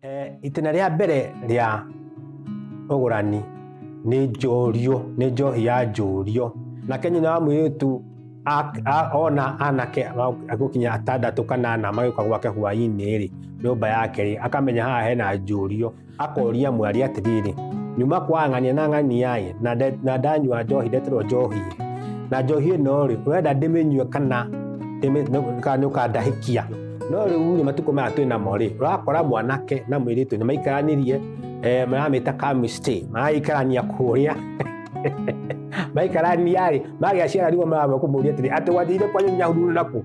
Eh, itĩna rĩa mbere rĩa ũgũrani nĩ njũrio nĩ njohi ya njũrio nake nyina wa mũirĩtu a- a- ona anake ma- agũkinya atandatũ kanana magĩũka gwake hwainĩ rĩ nyũmba yake rĩ akamenya haha hena njũrio akoria mwari atiriri nyuma kwa ng'ania na ng'aniaĩ na nde- na ndanyua njohi ndeterwo njohi na njohi ĩno rĩ ũrenda ndĩmĩnyue kana ndĩmĩ- nĩ- kana nĩũkandahĩkia no rĩu rĩ matukũ maya twĩ namo rĩ ũrakora mwanake na mwĩrĩtu nĩ maikaranĩrie eh, maramĩta kamistĩ maraikarania kũrĩa maikarania rĩ magĩa ciara rigo maramũkũmũria atĩrĩ atĩ wathire kwanyu nyahururu naku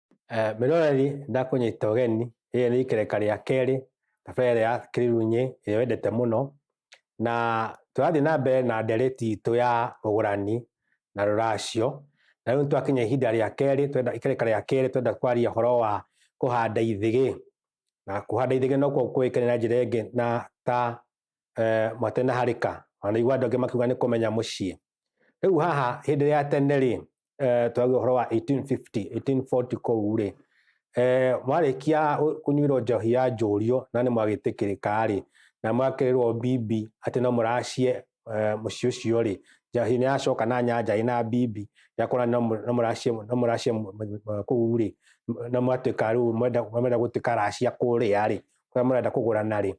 Eh, Mĩroreri ndakũnyita ũgeni, rĩrĩ nĩ ikereka rĩa kerĩ thabarĩ ya Kĩrĩrunyĩ ĩrĩa wendete mũno, na tũrathiĩ na mbere na ndereti itũ ya ũgũrani na rũracio, na rĩu nĩtwakinya ihinda rĩa kerĩ, ikereka rĩa kerĩ twenda kwaria ũhoro wa kũhanda ithĩgĩ, na kũhanda ithĩgĩ nokuo kũĩkaine na njĩra ĩngĩ na ta eh, mwatenaharĩka wanaigua andũ angĩ makiuga nĩ kũmenya mũciĩ rĩu haha hĩndĩ ya tene rĩ eh, twagĩa ũhoro wa 1850 1840 kũu rĩ eh, mwarĩkia ũ- kũnyuĩrwo njohi ya njũrio na nĩ mwagĩtĩkĩrĩka rĩ na mwakĩrĩrwo bibi atĩ no mũracie eh, mũciĩ ũcio rĩ njohi nĩ yacoka na nyanja ĩna bibi yakona no mũ- no mũracie no mũracie mũ- mũ- mũ- kũu rĩ na mwatuĩka rĩu mwenda mwenda gũtuĩka racia kũrĩa rĩ kũrĩa mũrenda kũgũrana rĩ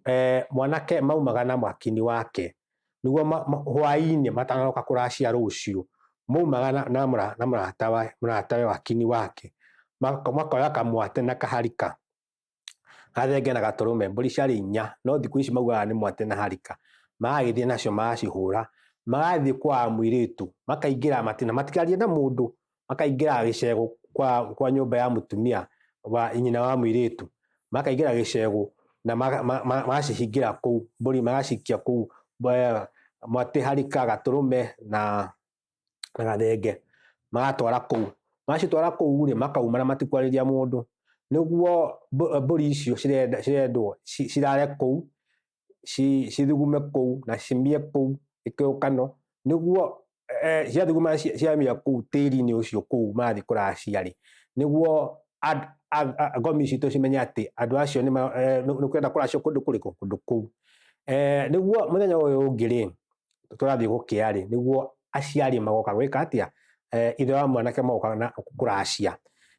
eh, mwanake maumaga na mwakini wake niguo hwainĩ matanoka kũracia rũciũ maumaga na mũratawe wakini wake makoya kamwate na kaharika gathenge na gatũrũme mbũri ciarĩ inya no thikũ ici maugaga nĩ mwate na harika magagĩthiĩ nacio magacihũra magathiĩ kwa mũirĩtu makaingĩra matina matigarie na mũndũ makaingĩraga gĩcegũ kwa, kwa nyũmba ya mũtumia wa nyina wa mũirĩtu makaingĩra gĩcegũ na maga- ma- ma- magacihingĩra kũu mbũri magacikia kũu eh, mwatĩ harika gatũrũme na na gathenge magatwara kũu macitwara kũu rĩ makauma na matikwarĩria mũndũ nĩguo mbũ- mbũri icio cirenda- cirendwo ci- cirare kũu ci cithugume kũu na cimbie kũu ikĩũkano nĩguo eh, ciathuguma ci- ciamia kũu tĩri-inĩ ũcio kũu mathiĩ kũraga ciarĩ nĩguo and- a- a- ngomi citũ cimenye atĩ andũ acio nĩ ma- eh, nĩ nĩ kwenda kũracio kũndũ kũrĩkũ kũndũ kũu Eh, nĩguo mũthenya ũyũ ũngĩ rĩ tũrathiĩ gũkĩa rĩ nĩguo aciari magoka gwĩka atĩa Eh, ithe wa mwanake magoka na kũracia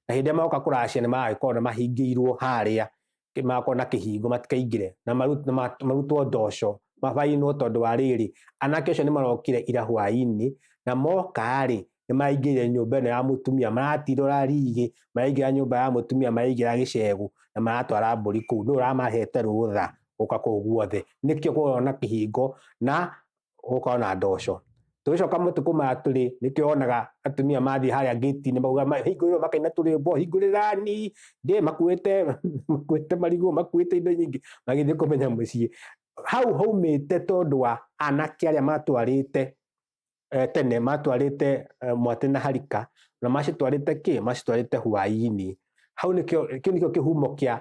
na hĩndĩ ĩrĩa magoka kũracia nĩ magagĩkorwo nĩ mahingĩirwo harĩa kĩ- makwo na kĩhingo matikaingĩre na maru- na ma- marutwo ndoco mabainwo tondũ wa rĩrĩ anake ũcio nĩ marokire ira hwaĩ-inĩ na moka-rĩ nĩ maraingĩrire nyũmba ĩno ya mũtumia maratirora rigi maraingĩra nyũmba ya mũtumia maraingĩra gĩcegũ na maratwara mbũri kũu nũ ũramahete rũtha gũka kũu guothe nĩkĩo kũrona kĩhingo na ũgũkorwo na ndoco tũgĩcoka matukũ maya tũrĩ nĩkĩo wonaga atumia mathiĩ harĩa ngĩti-inĩ mauga "Ma- hingũrĩrwo makaina tũrĩmbo hingũrĩrani ndĩ makuĩte makuĩte marigũ makuĩte indo nyingĩ magĩthiĩ kũmenya mũciĩ hau haumĩte tondũ wa anake arĩa matwarĩte eh, tene matwarĩte eh, mwatĩ na harika na macitwarĩte kĩ macitwarĩte hwainĩ hau nĩkĩo kĩu nĩkĩo kĩhumo kĩa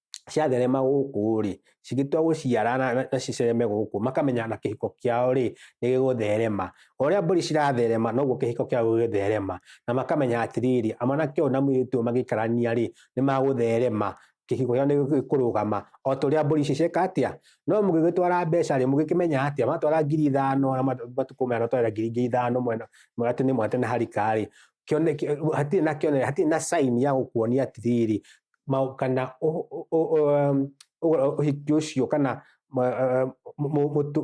ciatherema gũkũ rĩ cigĩtua gũciara na, na, na cicereme gũkũ makamenya na kĩhiko kĩao rĩ nĩ gĩgũtherema o ũrĩa mbũri ciratherema noguo kĩhiko kĩao gĩgũtherema na makamenya atĩrĩrĩ amwanake ũyũ na mũirĩtu ũyũ magĩikarania rĩ nĩ magũtherema kĩhiko kĩao nĩ gĩkũrũgama o ta ũrĩa mbũri icio cieka atĩa no mũgĩgĩtwara mbeca rĩ mũgĩkĩmenya atĩa matwara ngiri ithano na mat- matukũ maya matwara ngiri ingĩ ithano mwena mwatĩ nĩ mwatĩ na harika rĩ kĩone- kĩ- hatirĩ na kĩone hatirĩ na sign ya gũkuonia atĩrĩrĩ kana ũhiki ũcio kana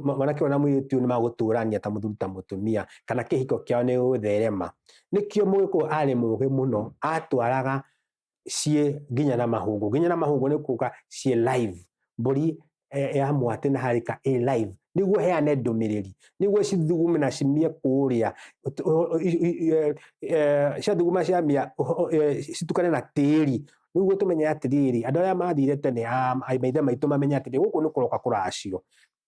mwanake ũyũ na mũirĩtu ũyũ nĩ magũtũrania ta mũthuri ta mũtumia kana kĩhiko kĩao nĩ gũgũtherema. Nĩkĩo mũgĩkũyũ arĩ mũgĩ mũno atwaraga ciĩ nginya na mahũngũ. Nginya na mahũngũ nĩ kuga ciĩ live. Mbũri e, ya mwatĩ na harika ĩ live nĩguo heane ndũmĩrĩri nĩguo cithugume na cimie kũrĩa e, e, ciathuguma ciamia citukane na tĩri nĩguo tũmenye atĩrĩrĩ andå arä a mathire tene maithe maitå mamenye atĩrĩrĩ gå kå nä kå roka kå racio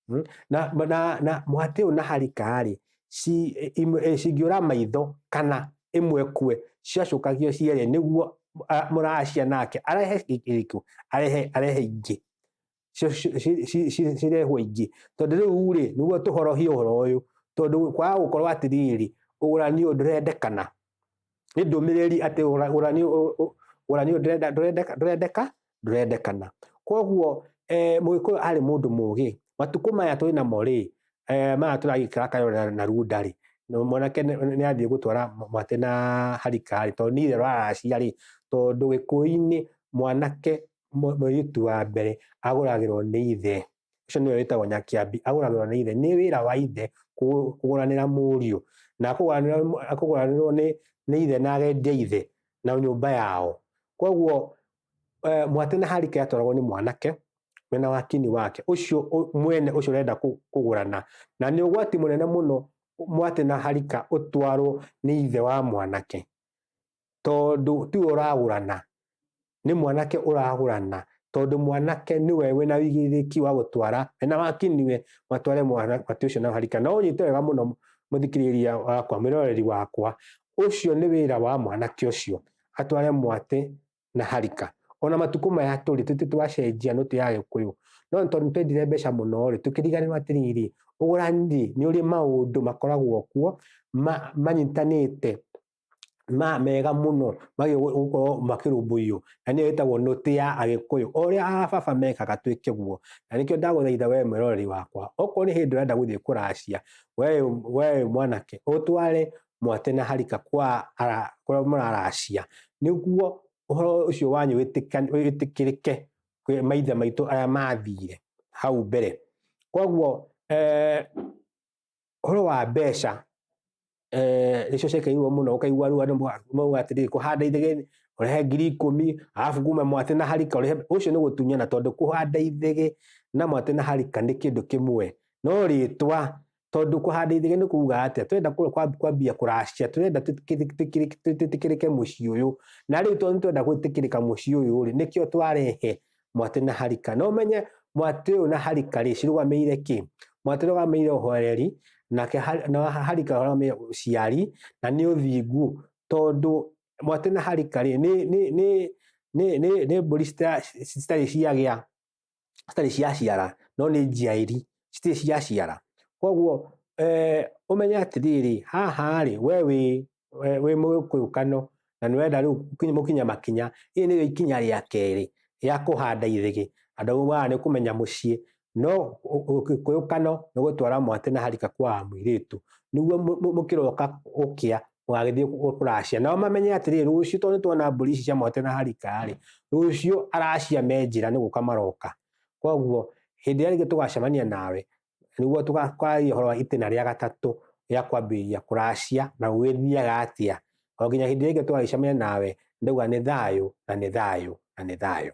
hmm? na, na, na mwatĩ å na harika rä cingä å ra maitho kana ä mwe kue ciacåkagio cierä nä guo må racia nake arehe kä arehe ingä cirehwo ingĩ tondũ rĩu rĩ nĩguo tũhorohie ũhoro ũyũ tondũ kwaga gũkorwo atĩrĩrĩ ũgũrani ũyũ ndũrendekana nĩ ndũmĩrĩri atĩ ũgũrani ũyũ ndũrendeka ndũrendekana kwoguo eh, mũgĩkũyũ arĩ mũndũ mũgĩ matukũ maya twĩ namo rĩ eh, maya tũragĩkĩra kayora na runda rĩ mwanake nĩ athiĩ gũtwara mwate na harikari tondũ nĩ itherũ araciarĩ tondũ gĩkũyũ-inĩ mwanake mũ- mũirĩtu wa mbere agũragĩrwo nĩ ithe ũcio nĩwe wĩtagwo nyakiambi agũragĩrwo nĩ ithe nĩ wĩra wa ithe kũ- kũgũranĩra mũriũ na akũgũranĩra mũ- akũgũranĩrwo nĩ nĩ ithe na agendia ithe na nyũmba yao koguo eh, mwatĩ na harika yatwaragwo nĩ mwanake mwena wa kini wake ũcio ũ- mwene ũcio ũrenda kũ- kũgũrana na nĩ ũgwati mũnene mũno mwatĩ na harika ũtwarwo nĩ ithe wa mwanake tondũ tiwe ũragũrana nĩ mwanake ũragũrana tondũ mwanake nĩwe wĩna wĩigĩrĩrĩki wa gũtwara na waki niwe matware mwanake ũcio na harika no ũnyite wega mũno mũthikĩrĩria wakwa mwĩroreri wakwa ũcio nĩ wĩra wa mwanake ũcio atware mwatĩ na harika ona matukũ maya tũrĩ tũtĩ twacenjia nũtĩ ya gĩkũyũ no tondũ twendire mbeca mũno rĩ tũkĩriganĩrwo atĩrĩrĩ ũgũrani nĩ ũrĩ maũndũ makoragwo kuo manyitanĩte ma mega muno magi gukorwo makirumbuiyo na niyo yetagwo noti ya agikuyu uria ababa mekaga twike guo na nikio ndaguthaitha we mwiroreri wakwa okorwo ni hindi urenda guthie kuracia we we mwanake utware mwate na harika kwa kuria muraracia niguo uhoro ucio wanyu witikirike kwi maithe maitu aria mathire hau mbere koguo eh, ũhoro wa mbeca eh, nĩcio ciekĩirwo mũno ũkaigua rĩu andũ ma- mauga atĩrĩrĩ kũhanda ithege ũrehe ngiri ikũmi arabu kuma mwatĩ na harika ũrehe ũcio nĩ gũtunyana tondũ kũhanda ithege na mwatĩ na harika nĩ kĩndũ kĩmwe no rĩtwa tondũ kũhanda ithege nĩ kuga atĩa twenda kũ- kwa- kwambia kũracia twenda twĩtĩkĩrĩ- twĩtĩkĩrĩ- twĩtĩkĩrĩke mũciĩ ũyũ na rĩu tondũ nĩ twenda gwĩtĩkĩrĩka mũciĩ ũyũ rĩ nĩkĩo twarehe mwatĩ na harika no menye mwatĩ ũyũ na harika rĩ cirũgamĩire kĩ mwatĩ ũrũgamĩire ũhoereri nake har- na harika ũrũgamĩire ũciari na nĩ ũthingu tondũ mwatĩ na harika rĩ nĩ nĩ nĩ nĩ nĩ nĩ mbũri cita- citarĩ ciagĩa citarĩ ciaciara no nĩ njiairi citirĩ ciraciara koguo eh, ũmenye atĩrĩrĩ haha rĩ we wĩ we- wĩ mũgĩkũyũ kano na nĩ wenda rĩu ũkinye- mũkinye makinya ĩĩ nĩyo ikinya rĩa kerĩ ya kũhanda irĩgĩ andũ amwe maya nĩ kũmenya mũciĩ no ũ- ũgĩkũyũ kano nĩ gũtwara mwatĩ na harika kwa mũirĩtu nĩguo mũ- mũ- mũkĩroka gũkĩa mũgagĩthiĩ kũ- kũracia nao mamenye atĩrĩrĩ rũciũ tondũ nĩ tuona mbũri ici cia mwatĩ na harika rĩ rũciũ aracia me njĩra nĩ gũka maroka koguo hĩndĩ ĩrĩa rĩngĩ tũgacemania nawe nĩguo tũgakwaragia ũhoro wa itĩna rĩa gatatũ rĩa kwambĩrĩria kũracia na gũgĩthiaga atĩa o nginya hĩndĩ ĩrĩa rĩngĩ tũgagĩcemania nawe ndauga nĩ thayũ na nĩ thayũ na nĩ thayũ